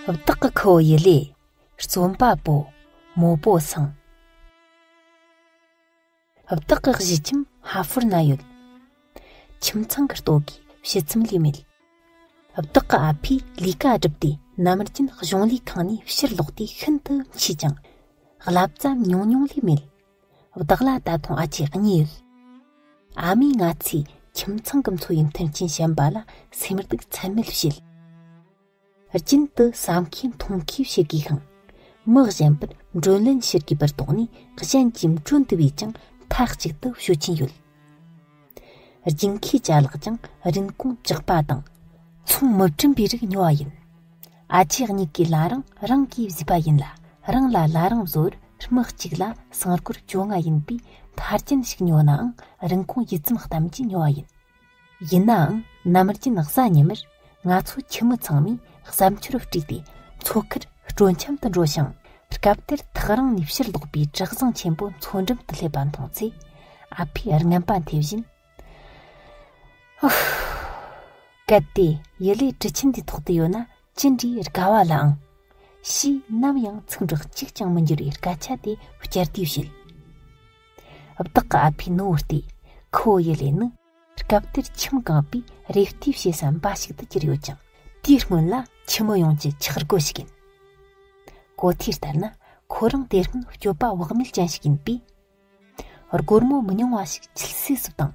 བདག་གི་ཁུ་བོ་ཡི་ལས་བརྩོན་པ་པོ་མོ་པོ་སངས། བདག་གི་གཞིས་ཁྱིམ་ཧ་ཧྥོར་ན་ཡོད། ཁྱིམ་ཚང་གི་ལྟོ་གོས་ཕྱི་ཚུམ་ལས་མེད། བདག་གི་ཨ་ཕས་ལས་ཀ་སྒྲུབ་སྟེ་ནམ་རྒྱུན་གཞུང་ལས་ཁང་ནས་ཕྱིར་ལོག་དུས་ཤིན་ཏུ་འཕྱིས་ཀྱང། བསླབ་བྱ་ཉུང་ཉུང་ལས་མེད། བདག་ལ་ད་དུང་ཨ་ཅེ་གཉིས་ཡོད། ཨ་མས་ང་ཚོའི་ཁྱིམ་ཚང་གི་འཚོ་བའི་མཐུན་རྐྱེན་ཞན་པ་ལ་སེམས་སྡུག་ཚད་མེད་བྱེད། རྒྱུན་དུ་བསམ་ཤེས་མཐོང་ཤེས་བྱེད་དགོས་ཤིང། མི་གཞན་པར་མགྲོན་ལན་ཞུ་དགོས་པར་དོགས་ནས་གཞན་གྱི་མགྲོན་འདུ་བས་ཀྱང་མཐའ་གཅིག་ཏུ་ཞུ་གྱིན་ཡོད། རྒྱུན་ཁའི་བྱ་གླག་ཀྱང་རིན་གོང་བཅག་པ་དང། ཚོང་མི་བཀྲིན་པའི་རིགས་ཉོ་བ་ཡིན། ཨ་ཅེ་གཉིས་ཀའི་བླ་རང་རང་གིས་བཟོས་པ་ཡིན་ལ་རང་ལ་བླ་རང་བཟོ་བར་མི་གཅིག་ལ་སྲང་སྐོར་བཅོ་ལྔ་ཡིན་པའི་འཕར་རྒྱན་ཞིག་ཉོ་ནའང་རིན་གོང་ཡིད་ཙམ་གཏམ་གྱིས་ཉོ་བ་ཡིན། ཡིན་ནའང་ནམ་རྒྱུན་གཟའ་ཉི་མར་ང་ཚོ་ཁྱི་མོ་ཚང་མས་བསམ་འཆར་དཀྲུགས་ཏེ་མཚོ་ཁར་སྤྲོ་འཆམ་དུ་འགྲོ་ཞིང་སྐབས་དེར་ཐག་རིང་ནས་ཕྱིར་ལོག་པའི་བྲག་བཟང་ཆེན་པོ་མཚོ་འགྲམ་དུ་སླེབས་པ་མཐོང་ཚེ་ཨ་ཕས་རྔན་པ་འཐེན་བཞིན། གལ་ཏེ་ཡུ་ལེ་གྲུ་ཆེན་འདིའི་ཐོག་ཏུ་ཡོད་ན་ཅི་འདྲའི་དགའ་བ་ལ་ཨང། ཞེས་ནམ་ཡང་ཚིག་འབྲུ་གཅིག་ཀྱང་མི་འགྱུར་བའི་སྐད་ཆ་དེ་བསྐྱར་ཟློས་བྱེད། བདག་གི་ཨ་ཕའི་ནུ་བོ་སྟེ་ཁོ་ཡུ་ལེ་ནི། སྐབས་དེར་ཁྱིམ་གང་པོས་རེ་ལྟོས་བྱེད་ས་འབའ་ཞིག་ཏུ་གྱུར་ཡོད་ཀྱང་དེའི་སྔོན་ལ་ཁྱི་མོ་ཡོངས་ཀྱི་འཁྱགས་སྒོ་ཞིག་ཡིན། གོ་ཐོས་ལྟར་ན་ཁོ་རང་དེ་སྔོན་སྤྱོད་པ་བག་མེད་ཅན་ཞིག་ཡིན་པས། སྒོར་མོ་མི་ཉུང་བ་ཞིག་ཁྱིལ་སེ་སུ་བཏང།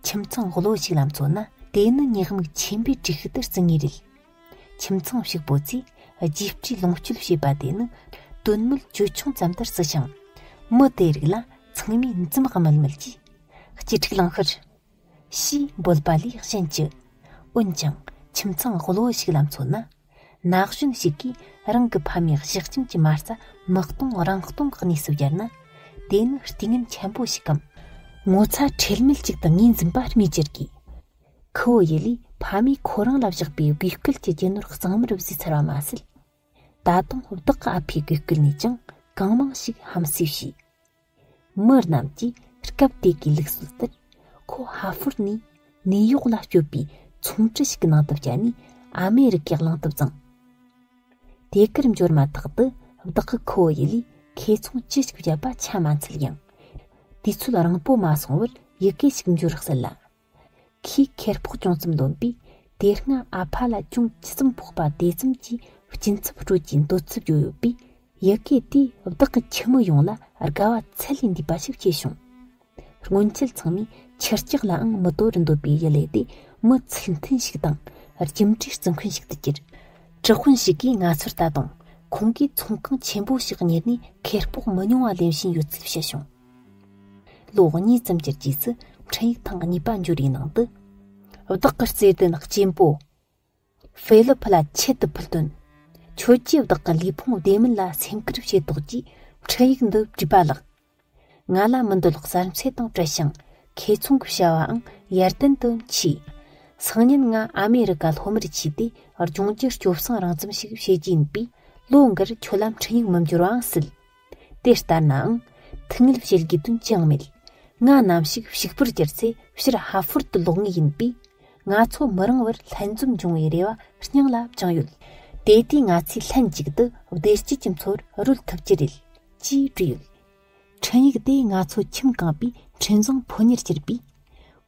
ཁྱིམ་ཚང་བློ་ཞིག་ལ་མཚོན་ན་དེ་ནི་ཉེས་དམིགས་ཆེན་པོའི་སྒྲིག་གཞི་ལྟར་བརྩི་ངེས་རེད། ཁྱིམ་ཚང་ཞིག་པོ་ཚོས་རྒྱུགས་སྤྲོད་ལོངས་སྤྱོད་བྱེད་པ་དེ་ནི་དོན་དངོས་ཅོལ་ཆུང་ཙམ་ལྟར་བརྩི་ཞིང། མི་དེའི་རིགས་ལ་ཚང་མས་འཛུམ་དམུལ་དམུལ་གྱིས། སྐྱིད་ཕྲུག་ལངས་ཤོར། ཞེས་འབོད་པ་ལས་གཞན་ཅི། འོན་ཀྱང་ཁྱིམ་ཚང་གློ་བུ་ཞིག་ལ་མཚོན་ན། ན་གཞོན་ཞིག་གིས་རང་གི་ཕ་མའི་གཞི་ཁྱིམ་གྱི་མ་རྩ་མི་སྟོང་རང་སྟོང་གི་གནས་སུ་གྱར་ན། དེ་ནི་རྟིང་ངན་ཆེན་པོ་ཞིག་གམ། ངོ་ཚ་ཁྲེལ་མེད་ཅིག་ཏུ་ངོས་འཛིན་པ་སྨོས་ཅི་དགོས། ཁུ་བོ་ཡེ་ལིས་ཕ་མས་ཁོ་རང་ལ་བཞག་པའི་གུས་སྐུལ་གྱི་རྒྱུ་ནོར་གཙང་མར་བཟོས་ཚར་བ་མ་ཟད། ད་དུང་བདག་གི་ཨ་ཕའི་གུས་སྐུལ་ནས་ཀྱང་གང་མང་ཞིག་ཧམ་བསུས་བྱས། མི་རྣམས་ཀྱིས་སྐབས་དེ་གའི་ལུགས་སྲོལ་ལྟར་ཁོ་ཧྭ་ཧྥོར་ནས་ནེའུ་ཡོག་ལ་བསྐྱོད་པའི་ཚོང་ཁྲི་ཞིག་གི་ནང་དུ་བསྐྱལ་ནས་ཨ་མེ་རི་ཀའི་གླིང་དུ་བརྫངས། དེ་གར་འབྱོར་མ་ཐག་ཏུ་བདག་གི་ཁུ་བོ་ཡེ་ལིས་ཁེ་ཚོང་ཅི་ཞིག་བརྒྱབ་པ་ཆ་མ་འཚལ་ཡང། དུས་ཚོད་རིང་པོ་མ་སོང་བར་ཡི་གེ་ཞིག་འབྱོར་སྲིད་ལ། ཁོས་ཁེར་ཕོག་ཅུང་ཙམ་འདོན་པས་དེ་སྔ་ཨ་ཕ་ལ་ཅུང་ཇི་ཙམ་ཕོག་པ་དེ་ཙམ་གྱིས་སྐྱིན་ཚབ་སྤྲོད་ཀྱི་འདོད་ཚུལ་བརྗོད་ཡོད་པས་ཡི་གེ་དེས་བདག་གི་ཁྱིམ་མི་ཡོངས་ལ་དགའ་བ་ཚད་ལས་འདས་པ་ཞིག་བྱས་བྱུང། སྔོན་ཆད་ཚང་མས་ཁྱི་སྐྱག་ལའང་མི་དོ་རུ་འདོད་པའི་ཡུ་ལེ་དེ་མི་ཚིག་མཐུན་ཞིག་དང་རྒྱུ་འབྲས་བརྩི་མཁན་ཞིག་ཏུ་གྱུར། གྲི་ཧོན་ཞིག་གིས་ང་ཚོར་ལྟ་དང་ཁོང་གིས་ཚོང་ཁང་ཆེན་པོ་ཞིག་གཉེར་ནས་ཁེར་ཕོག་མི་ཉུང་བ་ལེན་བཞིན་ཡོད་ཚུལ་བཤད་བྱུང། ལོ་གཉིས་ཙམ་གྱི་རྗེས་སུ་འཕྲིན་ཡིག་ཐེངས་གཉིས་པ་འབྱོར་བའི་ནང་དུ། བདག་གི་བརྩེ་ལྡན་གཅེན་པོ། ཧྥེ་ལི་ཕུ་ལ་ཆེད་དུ་ཕུལ་དོན། ཁྱོད་ཀྱིས་བདག་གི་ལུས་ཕུང་བདེ་མིན་ལ་སེམས་ཁུར་བྱས་དོགས་ཀྱིས་འཕྲིན་ཡིག་འདི་བྲིས་པ་ལགས། ང་ལ་མི་འདོད་ལགས་གསར་འཚེ་དང་བྲལ་ཞིང་ཁེ་ཚོང་གི་བྱ་བའང་ཡར་ཏན་དུ་མཆིས། སང་ཉིན་ང་ཨ་མེ་རི་ཀ་ལྷོ་མར་མཆིས་ཏེ་ལྗོངས་ཀྱི་སྐྱོབ་སྲུང་རང་བཙན་ཞིག་བྱེད་ཀྱི་ཡིན་པས་ལོ་འགར་ཁྱོད་ལ་འཕྲིན་ཡིག་མི་འབྱོར་བའང་སྲིད། དེ་ལྟར་ནའང། ཐིག་ངེར་བྱེད་དགོས་དོན་ཅང་མེད། ང་ནམ་ཞིག་ཕྱུག་པོར་གྱུར་ཚེ་ཕྱིར་ཧ་ཧྥོར་དུ་ལོག་ངེས་ཡིན་པས། ང་ཚོ་མི་རིང་བར་ལྷན་འཛོམས་འབྱུང་བའི་རེ་བ་སྙིང་ལ་བཅངས་ཡོད། དེ་ལྟའི་ང་ཚོས་ལྷན་ཅིག་ཏུ་བདེ་སྐྱིད་ཀྱི་འཚོ་བར་རོལ་ཐུབ་ཀྱི་རེད། ཅེས་བྲིས་ཡོད། འཕྲིན་ཡིག་དེས་ང་ཚོ་ཁྱིམ་རྐང་པའི་འཕྲིན་བཟང་ཕོ་ཉར་གྱུར་པས།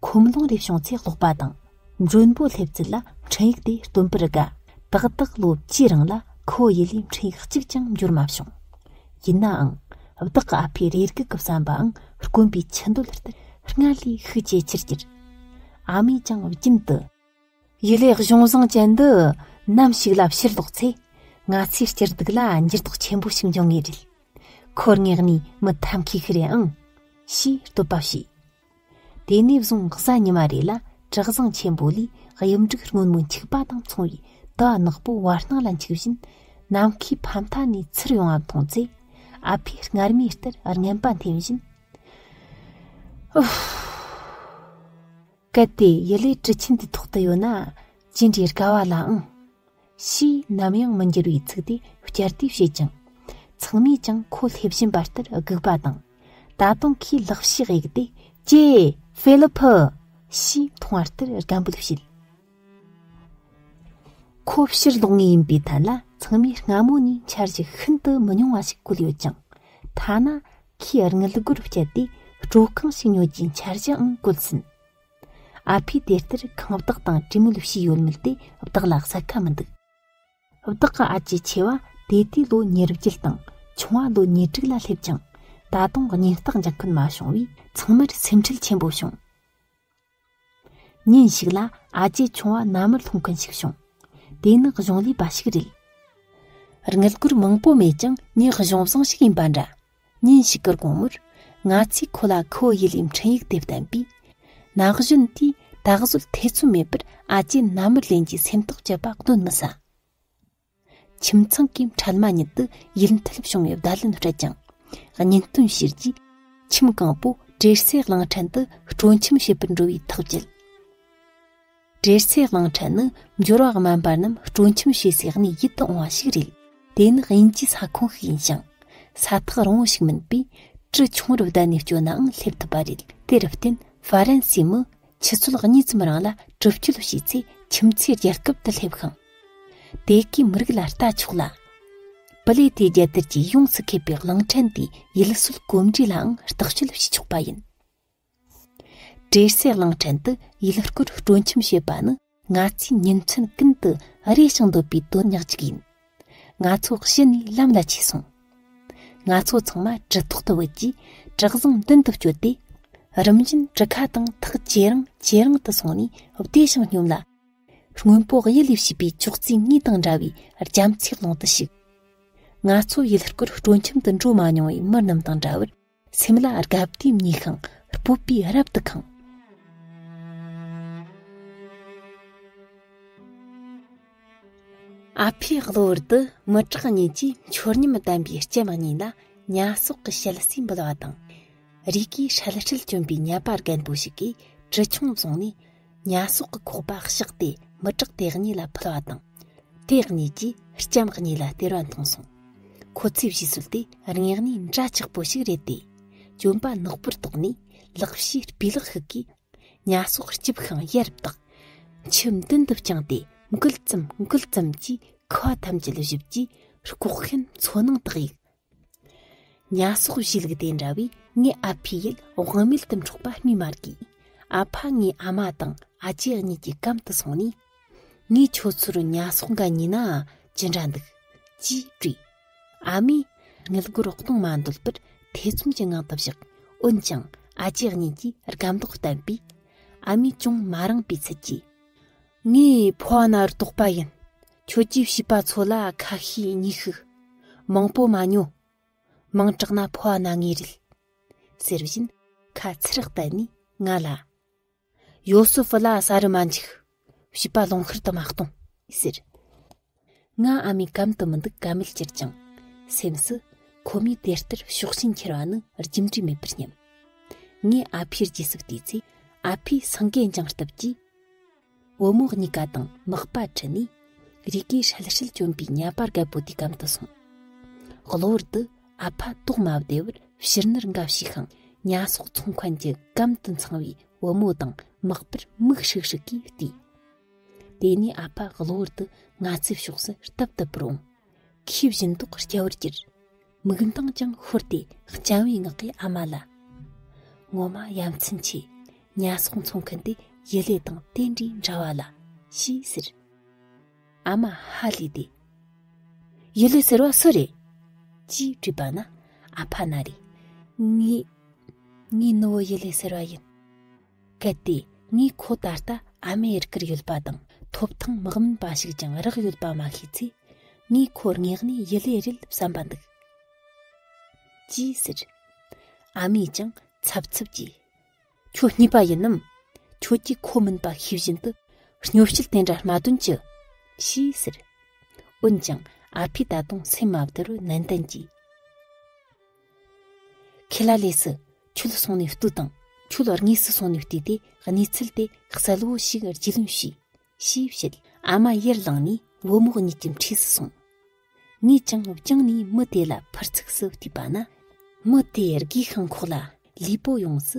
ཁོམ་ལོང་རེ་བྱུང་ཚེ་ཀློག་པ་དང། མགྲོན་པོ་སླེབས་ཚུལ་ལ་འཕྲིན་ཡིག་དེ་སྟོན་པར་དགའ། ཏག་ཏག་ལོ་བཅུའི་རིང་ལ་ཁོ་ཡུལ་ལས་འཕྲིན་ཡིག་གཅིག་ཀྱང་འབྱོར་མ་བྱུང། ཡིན་ནའང། བདག་གི་ཨ་ཕའི་རེ་སྒུག་གི་བསམ་པའང་དཀོན་པའི་ཆུ་འདོད་ལྟར་སྔར་ལས་ཤུགས་ཇེ་ཆེར་གྱུར། ཨ་མས་ཀྱང་རྒྱུན་དུ། ཡུལ་ལས་གཞུང་བཟང་ཅན་འདི་ནམ་ཞིག་ལ་ཕྱིར་ལོག་ཚེ། ང་ཚོའི་སྤྱིར་སྡུག་ལ་འགྱུར་ལྡོག་ཆེན་པོ་ཞིག་འབྱུང་ངེས་རེད། ཁོར་ངེས་ནས་མི་ཐབས་མཁས་ཤིག་རེད་ཨང། ཞེས་བསྟོད་པ་བྱས། དེ་ནས་བཟུང་གཟའ་ཉི་མ་རེ་ལ་དྲག་བཟང་ཆེན་པོ་ལས་གཡུ་འབྲུག་སྔོན་མོ་འཁྱུག་པ་དང་མཚུངས་པའི་དུ་བ་ནག་པོ་བར་སྣང་ལ་འཁྱུག་བཞིན་ནམ་མཁའི་ཕ་མཐའ་ནས་ཚུར་ཡོང་བ་མཐོང་ཚེ་ཨ་ཕས་སྔར་མུས་ལྟར་རྔན་པ་འཐེན་བཞིན། གལ་ཏེ་ཡུ་ལེ་གྲུ་ཆེན་དེ་ཐོག་ཏུ་ཡོད་ན་ཇི་འདྲའི་དགའ་བ་ལ་ཨང། ཞེས་ནམ་ཡང་མི་འགྱུར་བའི་ཚིག་དེ་བསྐྱར་ཟློས་བྱེད་ཅིང། ཚང་མས་ཀྱང་ཁོ་སླེབས་བཞིན་པ་ལྟར་སྒུག་པ་དང། ད་དུང་ཁོས་ལག་ཕྱིས་གཡུགས་ཏེ་ཀྱེ། ཧྥེ་ལི་ཕི། ཞེས་མཐོང་བ་ལྟར་སྒམ་འབོད་བྱེད། ཁོ་ཕྱིར་ལོག་ངེས་ཡིན་པའི་ཐད་ལ་ཚང་མས་སྔ་མོ་ནས་འཆར་གཞི་ཤིན་ཏུ་མི་ཉུང་བ་ཞིག་བཀོད་ཡོད་ཅིང། ཐ་ན་ཁོས་དངུལ་སྒོར་སྤྱད་དེ་སྤྲོ་རྐང་ཞིག་ཉོ་རྒྱུའི་འཆར་གཞིའང་བཀོད་ཟིན། ཨ་ཕས་དེ་ལྟར་ཁང་བདག་དང་གྲི་མོ་ལ་ཞུས་ཡོད་མོད་དེ་བདག་ལ་གསལ་ཁ་མི་འདུག། བདག་གི་ཨ་ཅེ་ཆེ་བ་དེ་ལྟའི་ལོ་ཉེར་བརྒྱད་དང་ཆུང་བ་ལོ་ཉེར་དྲུག་ལ་སླེབས་ཀྱང་ད་དུང་སྙིང་རྟགས་འཇགས་མཁན་མ་བྱུང་བས་ཚང་མར་སེམས་ཁྲལ་ཆེན་པོ་བྱུང། ཉིན་ཞིག་ལ་ཨ་ཅེ་ཆུང་བ་མནའ་མར་ལྷུང་མཁན་ཞིག་བྱུང། དེ་ནི་གཞུང་ལས་པ་ཞིག་རེད། དངུལ་སྒོར་མང་པོ་མེད་ཀྱང་ངའི་གཞུང་བཟང་ཞིག་ཡིན་པ་འདྲ། ཉིན་ཞིག་གི་དགོང་མོར་ང་ཚོས་ཁོ་ལ་ཁོའི་ཡུལ་ལས་འཕྲིན་ཡིག་དེ་བསྟན་པས། ན་གཞོན་དེས་ད་གཟོད་ཐེ་ཚོམ་མེད་པར་ཨ་ཅེ་ན་མུར་ལེན་གྱི་སེམས་ཐག་བཅད་པ་གདོན་མི་ཟ། ཁྱིམ་ཚང་གི་འཕྲལ་མ་ཉིད་དུ་ཡུལ་མཐུད་བྱུང་བའི་བརྡ་ལན་སྤྲད་ཀྱང། གཉེན་སྟོན་བྱས་རྗེས་ཁྱིམ་གང་པོ་བྲེལ་སའི་གླིང་ཕྲན་དུ་སྤྲོ་འཆམ་བྱེད་པར་འགྲོ་བའི་ཐག་བཅད། འབྲེལ་ཚད་གླིང་ཕྲན་ནི་འབྱོར་བ་དམན་པ་རྣམས་སྤྲོ་འཆམ་བྱེད་སའི་གནས་ཡིད་དུ་འོང་བ་ཞིག་རེད། དེ་ནི་དབྱིན་ཇིའི་ས་ཁོངས་ཤིག་ཡིན་ཞིང། ས་ཐག་རིང་བོ་ཞིག་མིན་པས་གྲུ་ཆུང་རུ་བསྡད་ནས་སྐྱོད་ནའང་སླེབས་ཐུབ་པ་རེད། དེར་བརྟེན་ཧྥ་རན་སིའི་མི་ཆུ་ཚོད་གཉིས་ཙམ་རིང་ལ་གྲུ་བསྐྱོད་བྱས་ཚེ་ཁྱིམ་མཚེས་རྒྱལ་ཁབ་ཏུ་སླེབས་ཤིང། དེ་གའི་མི་རིགས་ལ་ལྟ་ཆོག་ལ། པུ་ལེ་ཐེ་རྒྱལ་དར་གྱིས་ཡོངས་སུ་ཁེབས་པའི་གླིང་ཕྲན་དེའི་ཡུལ་སྲོལ་གོམས་འདྲིས་ལའང་བརྟག་དཔྱད་བྱེད་ཆོག་པ་ཡིན། བྲེལ་ཟས་གླིང་ཕྲན་དུ་ཡུལ་སྐོར་སྤྲོ་འཆམ་བྱེད་པ་ནི་ང་ཚོའི་ཉིན་མཚན་ཀུན་ཏུ་རེ་ཞིང་འདོད་པའི་དོན་ཉག་ཅིག་ཡིན། ང་ཚོ་གཞི་ནས་ལམ་ལ་ཆས་སོང། ང་ཚོ་ཚང་མ་གྲི་ཐོག་ཏུ་བུད་རྗེས་གྲི་བཟང་མདུན་དུ་བསྐྱོད་དེ། རིམ་བཞིན་གྲི་ཁ་དང་ཐག་ཇེ་རིང་ཇེ་རིང་དུ་སོང་ནས་བདེ་ཞིང་སྙོམས་ལ། སྔོན་པོ་གཡུ་ལས་བྱས་པའི་ཅོག་ཙེའི་ངོས་དང་འདྲ་བའི་རྒྱ་མཚོའི་ཀློང་དུ་ཞུགས། ང་ཚོ་ཡུལ་སྐོར་སྤྲོ་འཆམ་དུ་འགྲོ་མ་མྱོང་བའི་མི་རྣམས་དང་འདྲ་བར། སེམས་ལ་རྒ་བསྡིགས་མྱི་ཤིང་སྤོབས་པས་རབ་ཏུ་གང། ཨ་ཕའི་གློ་བུར་དུ་མི་དྲག་གཉིས་ཀྱིས་འཆོར་ཉམས་ལྡན་པའི་སྐྱེ་དམག་གཉིས་ལ་ཉྭ་སོག་གི་ཤེལ་བསྲེས་འབུལ་བ་དང། རིགས་ཀྱི་ཧྲལ་ཧྲལ་གྱོན་པའི་ཉལ་པ་རྒན་པོ་ཞིག་གིས་གྲི་ཆུང་བཟུང་ནས། ཉྭ་སོག་གི་ཁོག་པ་གཤགས་ཏེ་མི་དྲག་དེ་གཉིས་ལ་ཕུལ་བ་དང། དེ་གཉིས་ཀྱིས་ལྕམ་གཉིས་ལ་སྟེར་བ་མཐོང་སོང། ཁོ་ཚོས་བྱས་ཚུལ་དེ་རྙེད་ནས་འདྲ་ཆགས་པོ་ཞིག་རེད་དེ། གྱོན་པ་ནག་པོར་བཏགས་ནས་ལག་ཕྱིས་སྤུས་ལེགས་ཤིག་གིས་ཉྭ་སོག་སྐྱིབས་ཤིང་གཡས་རུ་བཏགས། མཆུ་མདུན་དུ་བཅངས་ཏེ་འགུལ་ཙམ་འགུལ་ཙམ་གྱིས་ཁ་བ་ཐམས་ཅད་བཞུབས་རྗེས་ལྐོག་ཤན་མཚོ་ནང་དག་ཡིག་ཉྭ་སོགས་བཞི་ལུགས་དེ་འདྲ་བས་ངའི་ཨ་ཕའི་ཡིད་དབང་མེད་དུ་འཕྲོག་པ་སྨོས་མ་དགོས། ཨ་ཕ་ངའི་ཨ་མ་དང་ཨ་ཅེ་གཉིས་ཀྱི་གམ་དུ་སོང་ནས། ངས་ཁྱོད་ཚོར་ཉྭ་སོགས་འགའ་ཉོས་ན་ཇི་འདྲ་འདུག། ཅེས་དྲིས། ཨ་མས་དངུལ་སྒོར་སྟོང་མ་འདོད་པར་ཐེ་ཚོམ་གྱི་ངང་དུ་བཞག་འོན་ཀྱང་ཨ་ཅེ་གཉིས་ཀྱིས་རྒབ་མདོག་བསྟན་པས། ཨ་མས་ཅུང་མ་རངས་པའི་ཚུལ་གྱིས། ངའི་ཕོ་བ་ན་རུ་དོགས་པ་ཡིན། ཁྱོད་ཀྱིས་བྱིས་པ་ཚོ་ལ་ཁ་ཤས་ཉིས་ཤིག། མང་པོ་མ་ཉོ། མིང་གྲགས་ན་ཕོ་བ་ན་ངེས་རེད། ཟེར་བཞིན་ཁ་ཚིར་བལྟས་ནས་ང་ལ། ཡོ་སོ་ཕི་ལ་ཟ་རུ་མ་འཇུག། བྱིས་པ་ལོང་ཤུར་དུ་མ་གཏོང། ཟེར། ང་ཨ་མའི་གམ་དུ་མི་འདུག་ག་མེད་གྱུར་ཅིང། སེམས་སུ་ཁོ་མོས་དེ་ལྟར་ཤོག་ཤིང་འཁྱེར་བ་ནི་རྒྱུ་འབྲས་མེད་པར་སྙམ། ངས་ཨ་ཕའི་རྗེས་སུ་བལྟས་ཚེ་ཨ་ཕས་སེང་གེ་འགྱིང་སྟབས་ཀྱིས། བུ་མོ་གཉིས་ཀ་དང་དམག་པ་ཁྲི་ནས་རིགས་ཀྱི་ཧྲལ་ཧྲལ་བྱོན་པའི་གཉའ་པར་རྒད་པོ་དེའི་གམ་དུ་སོང། གློ་བུར་དུ་ཨ་ཕ་ཏོག་མ་བདེ་བར་ཕྱིར་ནུར་འགའ་བྱས་ཤིང་གཉའ་ཟོག་ཚོང་མཁན་གྱི་གམ་དུ་འཚང་བའི་བུ་མོ་དང་དམག་པར་མིག་ཧྲིག་ཧྲིག་གིས་བལྟས། དེ་ནས་ཨ་ཕ་གློ་བུར་དུ་ང་ཚོའི་ཕྱོགས་སུ་རྟབ་རྟབ་པར་འོངས། ཁོས་བཞིན་མདོག་སྐྱ་བོར་གྱུར། མིག་མདངས་ཀྱང་ཤོར་ཏེ་སྤྱང་བའི་ངག་གིས་ཨ་མ་ལ། ངོ་མ་ཡ་མཚན་ཆེ། ཉལ་སོང་འཚོང་མཁན་དེ་ཡུ་ལེ་དང་དེ་འདྲའི་འདྲ་བ་ལ། ཞེས་ཟེར། ཨ་མ་ཧ་ལས་ཏེ། ཡུ་ལེ་ཟེར་བ་སུ་རེད། ཅེས་དྲིས་པ་ན་ཨ་ཕ་ན་རེ། ངའི། ངའི་ནུ་བོ་ཡུ་ལེ་ཟེར་བ་ཡིན། གལ་ཏེ་ངས་ཁོ་ད་ལྟ་ཨ་མེ་རི་ཀར་ཡོད་པ་དང་ཐོབ་ཐང་མི་དམན་པ་ཞིག་ཀྱང་རག་ཡོད་པ་མ་ཤེས་ཚེ། ངས་ཁོར་ངེས་གནས་ཡི་ལས་རེད་བསམ་པ་འདུག། ཅེས་ཟེར། ཨ་མས་ཀྱང་འཚབ་འཚུབ་ཀྱིས། ཁྱོད་གཉིས་པ་ཡིན་ནམ། ཁྱོད་ཀྱིས་ཁོ་མིན་པ་ཤེས་བཞིན་དུ་སྙོབ་བཤད་དེ་འདྲ་མ་སྟོན་ཅི། ཞེས་ཟེར། འོན་ཀྱང་ཨ་ཕས་ད་དུང་སེམས་མ་བདེ་རུ་ནན་ཏན་གྱིས། ཁེ་ལ་ལས་སུ་ཆུ་ལ་སོང་ནས་བཏུ་དང་ཆུ་ལ་རྔས་སུ་སོང་ནས་བཏུས་ཏེ་གནས་ཚུལ་དེ་གསལ་བོ་ཞིག་རྒྱུས་ལོན་བྱོས། ཞེས་བཤད། ཨ་མ་ཡར་ལངས་ནས་བུ་མོ་གཉིས་ཀྱི་འཁྲིས་སུ་སོང། ངས་ཀྱང་བསྐྱངས་ནས་མི་དེ་ལ་ཕར་ཚུགས་སུ་བལྟས་པ་ན། མི་དེས་སྒོས་ཤིང་ཁོག་ལ་ལུས་པོ་ཡོངས་སུ་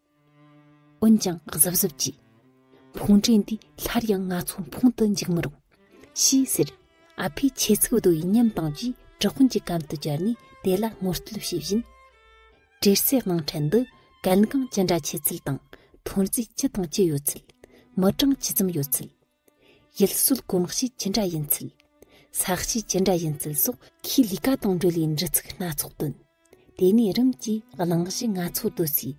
འོན་ཀྱང་གཟབ་གཟབ་ཀྱིས། ཕུང་འདྲེ་འདི་སླར་ཡང་ང་ཚོ་འཕུང་དུ་འཇུག་མི་རུང། ཞེས་ཟེར། ཨ་ཕས་ཆེ་ཚིག་བརྡོལ་བའི་ཉམས་སྟངས་ཀྱིས་གྲི་ཧོན་གྱི་གམ་དུ་བཅར་ནས་དེ་ལ་ངོ་རྟོལ་བྱེད་བཞིན། གྲེར་སའི་དབང་ཁྲལ་འདི་གལ་འགངས་ཅི་འདྲ་ཆེ་ཚུལ་དང་ཐོན་རྫས་ཅི་དང་ཅི་ཡོད་ཚུལ། མི་གྲངས་ཇི་ཙམ་ཡོད་ཚུལ། ཡུལ་སྲོལ་གོམས་གཤིས་ཇི་འདྲ་ཡིན་ཚུལ། ས་གཤིས་ཇི་འདྲ་ཡིན་ཚུལ་སོགས་ཁོའི་ལས་ཀ་དང་འབྲེལ་བའི་འབྲི་ཚིག་སྣ་ཚོགས་བཏོན། དེ་ནས་རིམ་གྱིས་གླེང་གཞི་སྣ་ཚོགས་བཏོད་ཚེ།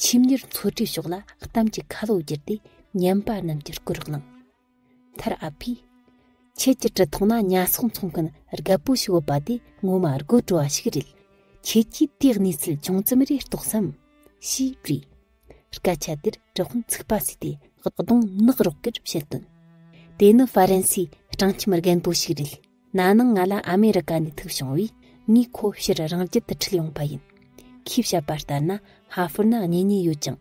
ཆེམས་གཉེར་འཚོལ་སྒྲུབ་ཕྱོགས་ལ་གཏམ་གྱི་ཁ་ལོ་བསྒྱུར་ཏེ་ཉན་པ་རྣམས་ཀྱི་སྐུར་བླངས། མཐར་ཨ་ཕས། ཁྱེད་ཀྱི་གྲི་ཐོག་ན་ཉྭ་སོག་འཚོང་མཁན་རྒད་པོ་ཞིག་འོད་པ་དེ་ངོ་མ་དགོད་བྲོ་བ་ཞིག་རེད། ཁྱེད་ཀྱིས་དེའི་གནས་ཚུལ་ཅུང་ཙམ་རེ་རྟོགས་སམ། ཞེས་དྲིས། སྐད་ཆ་དེར་གྲི་ཧོན་ཚིག་པ་ཟེར་ཏེ་གདོང་ནག་རོག་གེར་བཤད་དོན། དེ་ནི་ཧྥ་རན་སིའི་སྤྲང་ཁྱིམ་རྒན་པོ་ཞིག་རེད། ན་ནིང་ང་ལ་ཨ་མེ་རི་ཀ་ནས་ཐུག་བྱུང་བས་ངས་ཁོ་ཕྱིར་རང་རྒྱལ་དུ་འཁྲིད་ཡོང་པ་ཡིན། ཁོས་བཤད་པ་ལྟར་ན་ཧྭ་ཧྥོར་ན་གཉེན་ཉེ་ཡོད་ཅིང།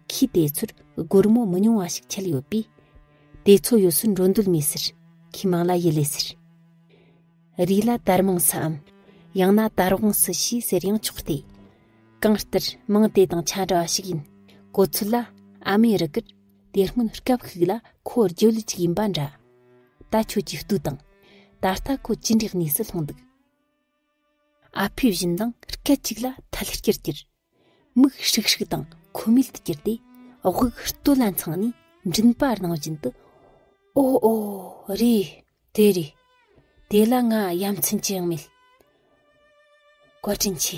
ཁོས་དེ་ཚོར་སྒོར་མོ་མི་ཉུང་བ་ཞིག་ཁྱེར་ཡོད་པས། དེ་ཚོ་ཡོད་ཚོད་འགྲོ་འདོད་མེད་ཟེར། ཁོས་མང་ལ་ཡི་ལེ་ཟེར། རིགས་ལ་དར་མངས་སུའམ་ཡང་ན་དར་བོང་སུ་ཞེས་ཟེར་ཡང་ཆོག་སྟེ། གང་ལྟར་མིང་དེ་དང་ཆ་འདྲ་བ་ཞིག་ཡིན་གོ་ཚོད་ལ་ཨ་མེ་རི་ཀར་དེ་སྔོན་སྐབས་ཤིག་ལ་ཁོ་རྒྱུ་ལུད་ཅིག་ཡིན་པ་འདྲ། ད་ཁྱོད་ཀྱི་ལྟོས་དང། ད་ལྟ་ཁོ་ཅི་འདྲའི་གནས་སུ་ལྷུང་འདུག། ཨ་ཕས་བཞིན་དང་སྐད་ཅིག་ལ་ཐལ་སྐྱར་གྱུར། མིག་ཧྲིག་ཧྲིག་དང་ཁོ་མོས་དུ་གྱུར་ཏེ་དབུགས་སྟོད་ལ་འཚང་ནས་མགྲིན་པ་རྣོ་བཞིན་དུ་ཨོ་ཨོ་རེད་དེ་རེད་དེ་ལ་ང་ཡ་མཚན་ཅི་ཡང་མེད། བཀའ་དྲིན་ཆེ་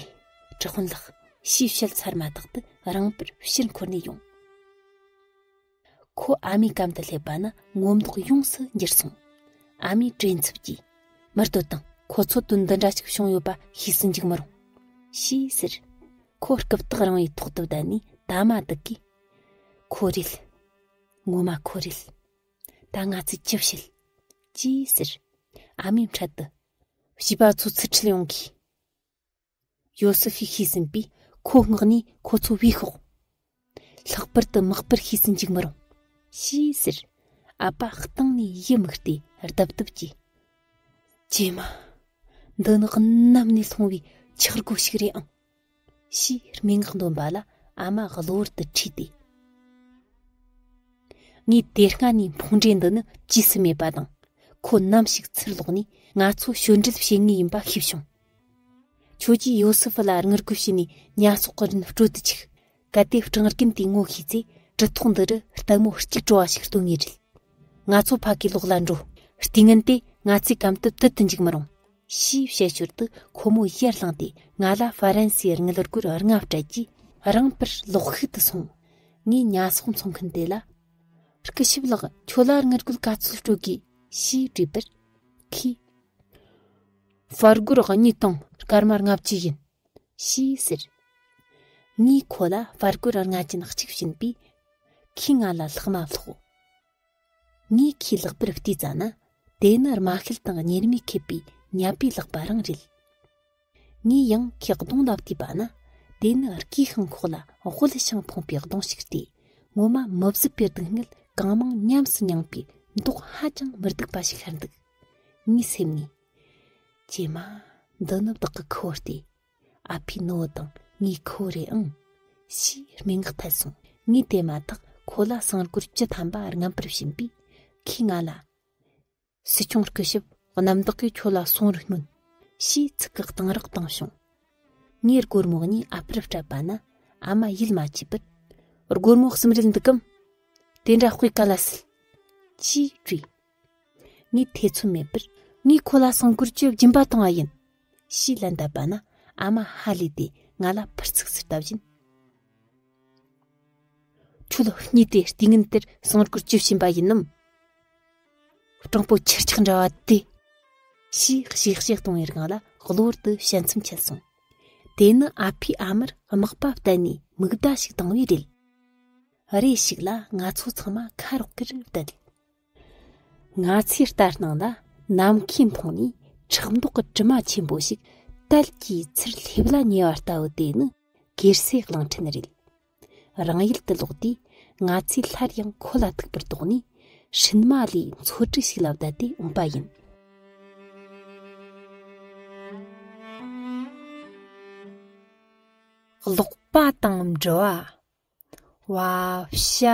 གྲགས་དཔོན་ལགས་ཞེས་བཤད་ཚར་མ་ཐག་ཏུ་རང་དཔེར་ཕྱིར་འཁོར་ནས་ཡོང། ཁོ་ཨ་མའི་གམ་དུ་སླེབས་པ་ན་ངོ་མདོག་ཡོངས་སུ་འགྱུར་སོང། ཨ་མའི་བྲེལ་འཚུབ་ཀྱིས། མི་ལྟོས་དང་ཁོ་ཚོ་དོན་འདི་འདྲ་ཞིག་བྱུང་ཡོད་པ་ཤེས་སུ་འཇུག་མི་རུང། ཞེས་ཟེར། ཁོ་རྐུབ་སྟེགས་རིང་བའི་ཐོག་ཏུ་བསྡད་ནས་ད་མ་སྡུག་གིས། ཁོ་རེད། ངོ་མ་ཁོ་རེད། ད་ང་ཚོས་ཅི་བྱེད། ཅེས་ཟེར། ཨ་མའི་འཕྲལ་དུ། བྱིས་པ་ཚོ་ཚུར་ཁྲིད་ཡོང་གིས། ཡོ་སི་ཧི་ཤེས་ཟིན་པས་ཁོ་སྔགས་ནས་ཁོ་ཚོ་བས་ཤོག། ལྷག་པར་དུ་དམག་དཔེར་ཤེས་སུ་འཇུག་མི་རུང། ཞེས་ཟེར། ཨ་པ་སྟེང་ནས་ཡི་མུག་སྟེ་རྡབ་རྡབ་ཀྱིས། ཀྱེ་མ། འདི་ནི་གནམ་ནས་ལྷུང་བའི་འཁྱག་སྒོ་ཞིག་རེད་ཨང། ཞེས་སྨྲེ་སྔགས་འདོན་པ་ལ་ཨ་མ་གློ་བུར་དུ་ཁྲིད་དེ། ངའི་དེ་སྔ་ནས་འཕོང་འདྲེ་འདི་ནི་རྗེས་སུ་མེད་པ་དང། ཁོ་ནམ་ཞིག་ཚུར་ལོག་ནས་ང་ཚོ་གཤོད་འདྲལ་བྱེད་ངེས་ཡིན་པ་ཤེས་བྱུང། ཁྱོད་ཀྱིས་ཡོ་སེ་ཧྥུ་ལ་དངུལ་རྒོལ་བྱས་ནས་ཉ་ཚོགས་ཀྱི་རིན་སྤྲོད་དུ་ཆུགས། གལ་ཏེ་སྤྲང་རྒན་དེའི་ངོ་ཤེས་ཚེ་གྲི་ཐོག་འདི་རུ་སྟག་མོ་གཅིག་བྲོ་བ་ཞིག་སྟོན་ངེས་རེད། ང་ཚོ་ཕ་གིའི་ལོགས་ལ་འགྲོ། རྟིང་ངན་དེ་ང་ཚོའི་གམ་དུ་དུད་དུ་འཇུག་མི་རུང། ཞེས་བཤད་ཞོར་དུ་ཁོ་མོ་ཡར་བསླངས་ཏེ་ང་ལ་ཧྥ་རན་སིའི་དངུལ་རྒོལ་རྔ་བ་སྤྲད་རྗེས་རང་ཕར་ལོག་ཤུགས་དུ་སོང། ངས་ཉ་ཚོགས་འཚོང་མཁན་དེ་ལ། སྐུ་ཞབས་ལགས་ཁྱོད་ལ་དངུལ་རྒོལ་ག་ཚོད་སྤྲོད་དགོས། ཞེས་དྲིས་པར། ཁོས། བར་སྒོར་གཉིས་དང་སྐར་མ་ལྔ་བཅུ་ཡིན། ཞེས་ཟེར། ངས་ཁོ་ལ་བར་སྒོར་ལྔ་ཅན་གཅིག་བྱིན་པས། ཁོས་ང་ལ་ལྷག་མ་སློག། ངས་ཁོའི་ལག་པར་ལྟོས་ཙ་ན་དེ་ནི་རྨ་ཁལ་དང་གཉེར་མས་ཁེབས་པའི་ཉྭ་པའི་ལག་པ་རང་རེད། ངས་ཡང་ཁོའི་གདོང་ལ་ལྟོས་པ་ན་དེ་ནི་སྐས་ཤིང་ཁོག་ལ་དབུལ་ཞིང་ཕོངས་པའི་གདོང་ཞིག་སྟེ་ངོ་མ་མི་བཟོད་པའི་སྡུག་བསྔལ་གང་མང་ཉམས་སུ་མྱངས་པའི་མདོག་ཧ་ཅང་མི་སྡུག་པ་ཞིག་ཤར་འདུག། ངའི་སེམས་ནས། ཀྱེ་མ། འདི་ནི་བདག་གི་ཁུ་བོ་སྟེ། ཨ་ཕའི་ནུ་བོ་དང་ངའི་ཁུ་བོ་རེད་ཨང། ཞེས་སྨྲེ་ངག་འཐེན་སོང། ངས་དེ་མ་ཐག་ཁོ་ལ་གསང་སྒོར་བཅུ་ཐམ་པ་རྔམ་པར་བྱིན་པས། ཁོས་ང་ལ། སྲིད་སྐྱོང་སྐུ་ཞབས་གནམ་བདག་གིས་ཁྱོད་ལ་གསུང་རུ་སྙོན། ཞེས་ཚིག་གི་གཏང་རག་བཏང་བྱུང། ངས་སྒོར་མོ་གཉིས་ཨ་ཕར་སྤྲད་པ་ན་ཨ་མ་ཡིད་མ་ཆེས་པར། སྒོར་མོ་གསུམ་རེད་འདུག་གམ། དེ་འདྲ་དཔེ་ག་ལ་སྲིད། ཅེས་དྲིས། ངས་ཐེ་ཚོམ་མེད་པར་ངས་ཁོ་ལ་སྲང་གོར་གྱི་སྦྱིན་པ་བཏང་བ་ཡིན། ཞེས་ལན་བཏབ་པ་ན་ཨ་མ་ཧ་ལས་ཏེ་ང་ལ་ཕར་ཚིགས་ཚུར་ལྟ་བཞིན། ཁྱོད་རྙེད་དེ་ལྟས་ངན་དེར་སྲང་གོར་གྱི་བྱིན་པ་ཡིན་ནམ། སྤྲང་པོ་ཁྱེར་ཆག་འདྲ་བ་དེ། ཞེས་གཤེགས་བཤད་གཏོང་བའི་སྒང་ལ་གློ་བུར་དུ་བཤད་མཚམས་ཆད་སོང། དེ་ནི་ཨ་ཕས་ཨ་མར་དམག་པ་བསྟན་ནས་མིག་ཟླ་ཞིག་བཏང་བས་རེད། རེ་ཞིག་ལ་ང་ཚོ་ཚང་མ་ཁ་རོག་གེར་བསྡད། ང་ཚོའི་ལྟ་སྟངས་ལ་ནམ་མཁའི་མཐོངས་ནས་ཁྲག་མདོག་གི་དྲི་མ་ཆེན་པོ་ཞིག་དལ་གྱིས་ཚུར་སླེབས་ལ་ཉེ་བ་ལྟ་བུ་དེ་ནི་སྒེར་སའི་གླིང་ཕྲན་རེད། རང་ཡུལ་དུ་ལོག་དུས་ང་ཚོས་སླར་ཡང་ཁོ་ལ་ཐུག་པར་དོགས་ནས་ཧྲིན་མ་ལའི་མཚོ་གྲུ་ཞིག་ལ་བསྡད་དེ་འོངས་པ་ཡིན། ཀློག་པ་དང་འབྲི་བ། བ་བྱ་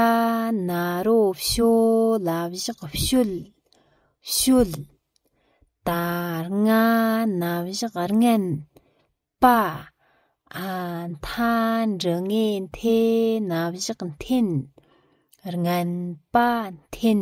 ན་རོ་བྱོ་ལ་བཞག་བྱོལ་བྱོལ། ད་རྔ་ན་བཞག་རྔན་པ་ཨ་མཐའ་འབྲི་ངེ་འཐེན་ན་བཞག་འཐེན་རྔན་པ་འཐེན།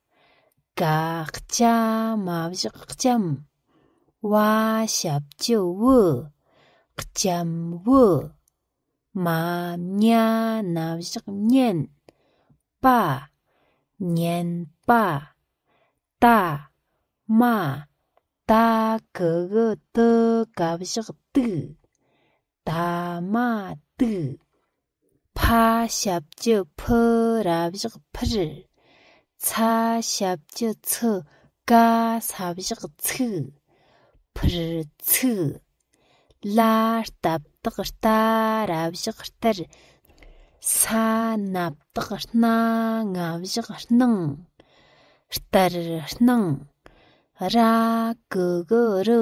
དགག་བྱ་མ་བཞག་ལྕམ་བ་ཞབས་ཀྱི་བུ། ལྕམ་བུ་མ་མྱ་ན་བཞག་བསྙེན་པ། བསྙེན་པ་ད་མ་ད་གི་གི་ཏི་ག་བཞག་དུག། ད་མ་དུག། ཕ་ཞབས་ཀྱི་ཕུ་ར་བཞག་འཕུར། ཚ་ཞབས་ཀྱི་ཚུ་ཀ་ས་བཞག་ཚུག། འཕུར་ཚུག། ལ་སྟབས་དག་ལྟ་ར་བཞག་ལྟར། ས་སྣབས་དག་སྣ་ལྔ་བཞག་སྣང། ལྟར་སྣང། ར་གི་གུ་རུ